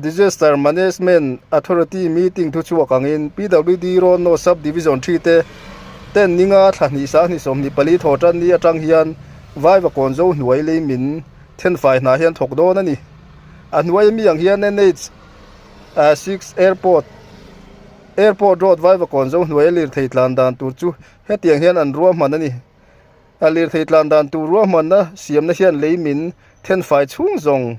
Disaster Management Authority meeting thu chhuak angin PWD Road No Sub Division thi te ten ninga thla hnih sang hnih sawm hnih pali thaw tan ni atang hian vaiva kawn zo hnuai lei min then fai hna hian thawk dawn a ni. A hnuai mi ang hian NH a six Airport Airport Road vaiva kawn zo hnuaia lirthei tlan dan tur chu hetiang hian an ruahman a ni. A lirthei tlan dan tur ruahmanna siamna hian lei min then fai chhung zawng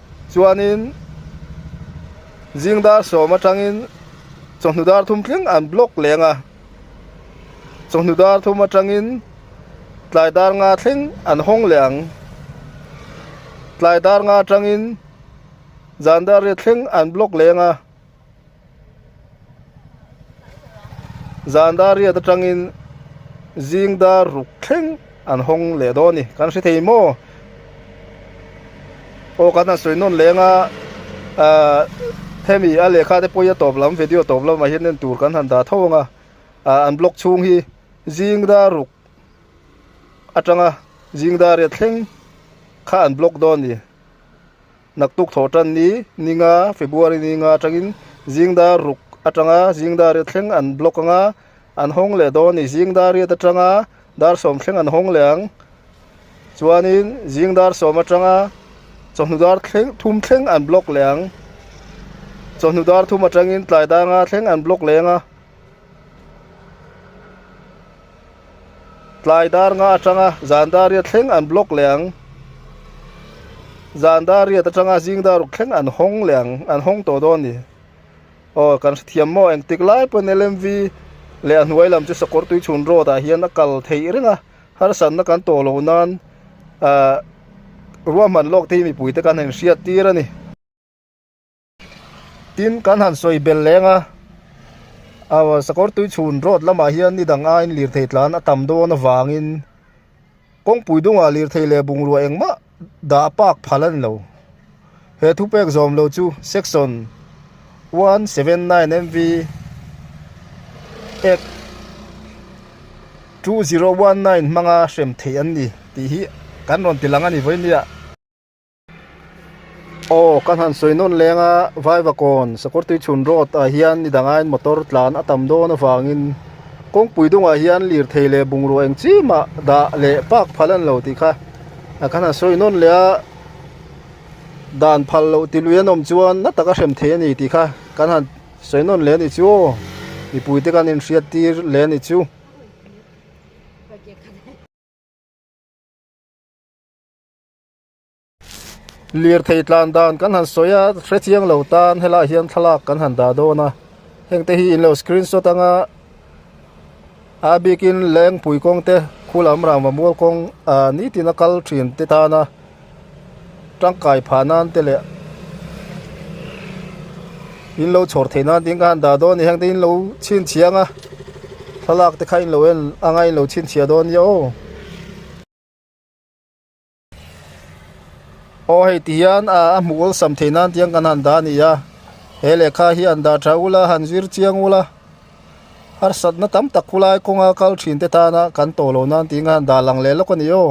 Chuanin Zingdar sawm atangin chawhnu dar thum tling an block leng a, chawhnu dar thum atangin tlai dar nga thleng an hawng leh ang, tlai dar nga atangin zan dar ria thleng an block leng a, Zan dariat atangin zing dar ruk thleng an hawng leh dawn a ni. Kan hre thei maw? Aw, kan han sawi nawn leng a. Ahh, hemi a lehkha te pawi a tawp lam, video a tawp lamah hian en tur kan han dah tho ang a. Ahh, an blog chhung hi zing dar ruk atanga zing dariat thleng kha an block dawn a ni. Naktuk thaw tan ni ninga February ni nga atangin zingdar ruk atanga zingdariat thleng an block anga an hawng leh dawn a ni. Zingdariat atanga dar sawm thleng an hawng leh ang. Chuanin zingdar sawm atanga chawhnu dar thleng thum thleng an block leh ang. Chawhnu dar thum atangin tlai danga thleng an block leh ang a. Tlai dar nga atanga zan dariat thleng an block leh ang. Zan dariat atanga zing dar ruk thleng an hawng leh ang, an hawng tawh dawn ni. Aw kan hrethiam maw? Engtik lai pawn LMV leh a hnuai lam chu Sakawr tui chhun road ah hian a kal theih reng a, harsatna kan tawh loh nan ah ruahman lawk te hi mipui te kan han hriat tir a ni. Tin, kan han sawi bel leng a, Sakawr Tui Chhun Road lamah hian ni dang aiin lirthei tlan a tam dawn avangin kawngpui dungah lirthei leh bungrua engmah dah pâk phal a ni lo. He thu pêk zawm lo chu Section one seven nine MV Act two zero one nine hmanga hrem theih an ni tih hi kan rawn ti lang a ni vawi nia. Aw ka hlan sawi nawn leng a, Vaivakawn Sakhawrtui Chhun Road ah hian ni dang aiin motor tlan a tam dawn avangin kawngpui dungah hian lirthei leh bungraw eng chiah mah dah leh park phal an lo tih kha a ka hlan sawi nawn leh a, dan phal loh ti lui an awm chuan na taka hrem thei a ni tih kha ka hlan sawi nawn leh a ni chu aw mipui te kan inhriat tir leh a ni chu. Lirthei tlan dan kan han sawi a, hrechiang lo tan helaiah hian thlalak kan han dah dawn a, hengte hi in lo screen shot anga a bikin lengpui kawng te khu lam rangva mual kawng ah nitin a kal thin te tan a tangkai phah nan te leh in lo chhawr theih nan te hi kha han dah dawn a ni, hengte hi in lo chhinchhiah ang a, thlalak te kha in lo en anga in lo chhinchhiah dawn a ni aw. Aw hei ti hian a hmuh awlsam thei nan tiang kan han dah a ni a, he lehkha hi han dah tha ula han zir chiang ula harsatna tam tak khulai kawnga kal thin te tana kan tawh loh nan tiin khan han dah lang leh lawk a ni aw.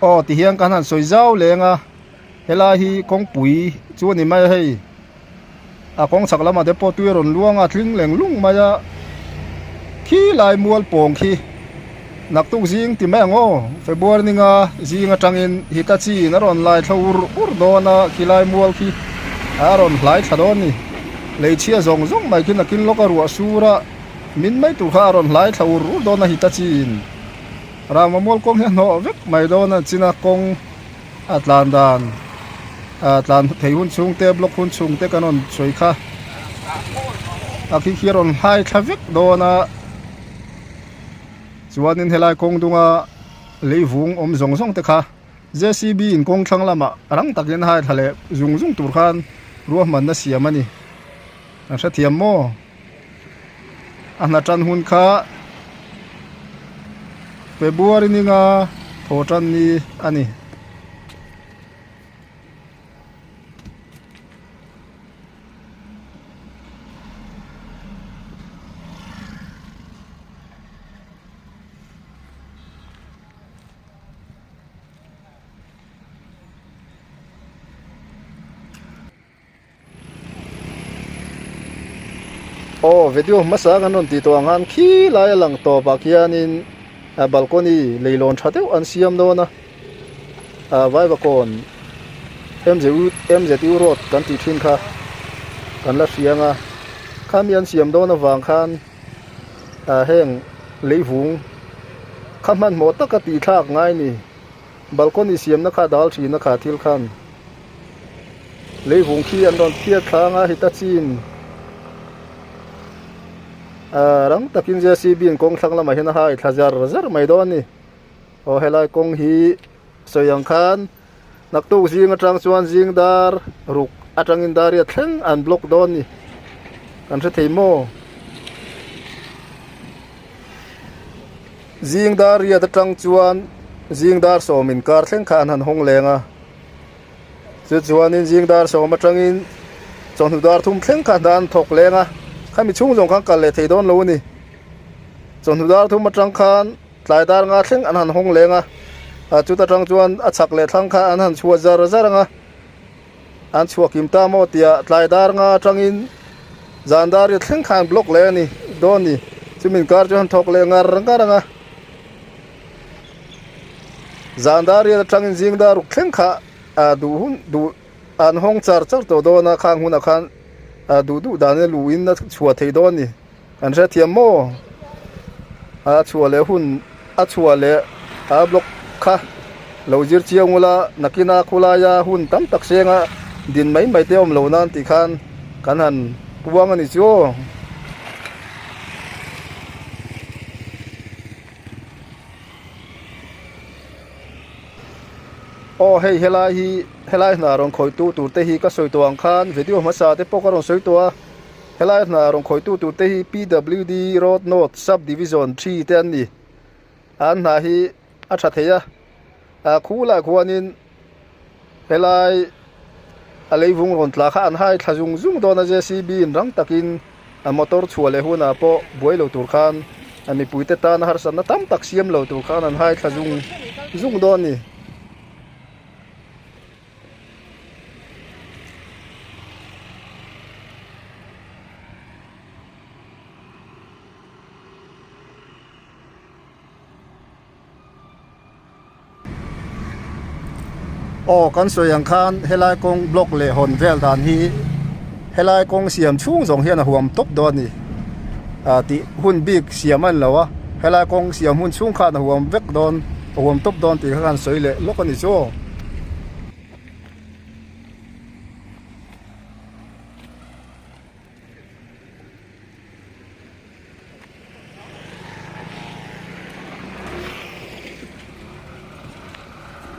aw tihian ka han sawi zau leng a helai hi kawngpui chu a ni mai hei. A kawng chak lamah te pawh tui a rawn luang a, a tling leng lung mai a. Khi lai mual pawng khi naktuk zing ti mai ang aw. Febuary ninga zing atangin Hitachiin a rawn laithlo ur ur dawn a, khi lai mual khi a rawn hlai thla dawn a ni. Leichhia zawng zawng mai khi nakin lawka ruah sur a min mai tur kha a rawn hlai thla ur ur dawn a Hitachiin. Rangva mual kawng hi a hnawh vek mai dawn a, China kawng A tlan dan a tlan thei hun chhung te block hun chhung te kan rawn sawi kha a khi khi a rawn hlai thla vek dawn a chuanin helai kawng dunga lei vung awm zawng zawng te kha jcb in kawng thlang lamah rang takin haithla leh zung zung tur khan ruahmanna siam a ni a hrethiam maw. A hna tan hun kha February ninga thaw tan ni a ni. aw video hmasa ang an rawn ti tawh ang a an khi lai a lang tawp ah khian in a balkawni lei lawn tha deuh an siam dawn a ah vaivakuan mzu road kan tih thin kha kan la hria ang a khami an siam dawn a vang khan ah heng leivung kha hmanhmawh taka tihthlak ngai a ni. Balcony siamna kha dal thin a kha thil khan leivung khi an rawn phiar thlâng a, Hitachi'n aa rang takin JCB'n kawng thlang lamah hian a hai thla zar zar mai dawn a ni. Aw helai kawng hi sawi ang khan naktuk zing atang chuan zing dar ruk atangin dariat thleng an block dawn a ni. Kan hre thei maw? Zing dar riat atang chuan zing dar sawm in kar thleng kha an han hawng leng a. Chu chuan in zing dar sawm atang in chawhnu dar thum thleng kha dan thawk leng a. Khami chhung zawng khan kal leh thei dawn lo a ni. Chawhnu dar thum atang khan tlai dar nga thleng an han hawng leng a. Chuta tang chuan a chak leh thlang kha an han chhuat zar zar ang a. An chhuak kim ta maw tiah tlai dar nga atangin zan dar riat thleng kha an block leh a ni dawn ni. Chu min kar chuan han thawk leh ngar ngar ang a. Zan dar riat atangin zing dar ruk thleng kha aa duh hun duh an hawng char char tawh dawn a khang hunah khan aa duh duh dan in luh in a chhuah theih dawn a ni. Kan hrethiam maw? A chhuah leh hun, a chhuah leh a block kha lo zir chiang ula nakina khawlaia hun tam tak hrênga din mai mai te awm lo nan tih khan kan han puang a ni chu aw. Aw hei helai hi, helai hna rawn khawihtu tur te hi ka sawi tawh ang khan video hmasa te pawh ka rawn sawi tawh a. Helai hna rawn khawitu tur te hi PWD Road North Sub Division Three te an ni. An hna hi a tha thei a, a khu lah khuanin helai a leivung rawn tla kha an haithla zung zung dawn a, JCB in rang takin a motor chhuah leh hunah pawh buai lo tur khan a mipui te tana harsatna tam tak siam lo tur khan an haithla zung zung dawn a ni. Aw kan sawi ang khan helai kawng block leh hawn vel dan hi-- Helai kawng siam chhung zawng hian a huam tawp dawn a ni ah tih hun bik siam a ni lo a, helai kawng siam hun chhung khan a huam vek dawn, a huam tawp dawn tih kha khan sawi leh lawk a ni chu.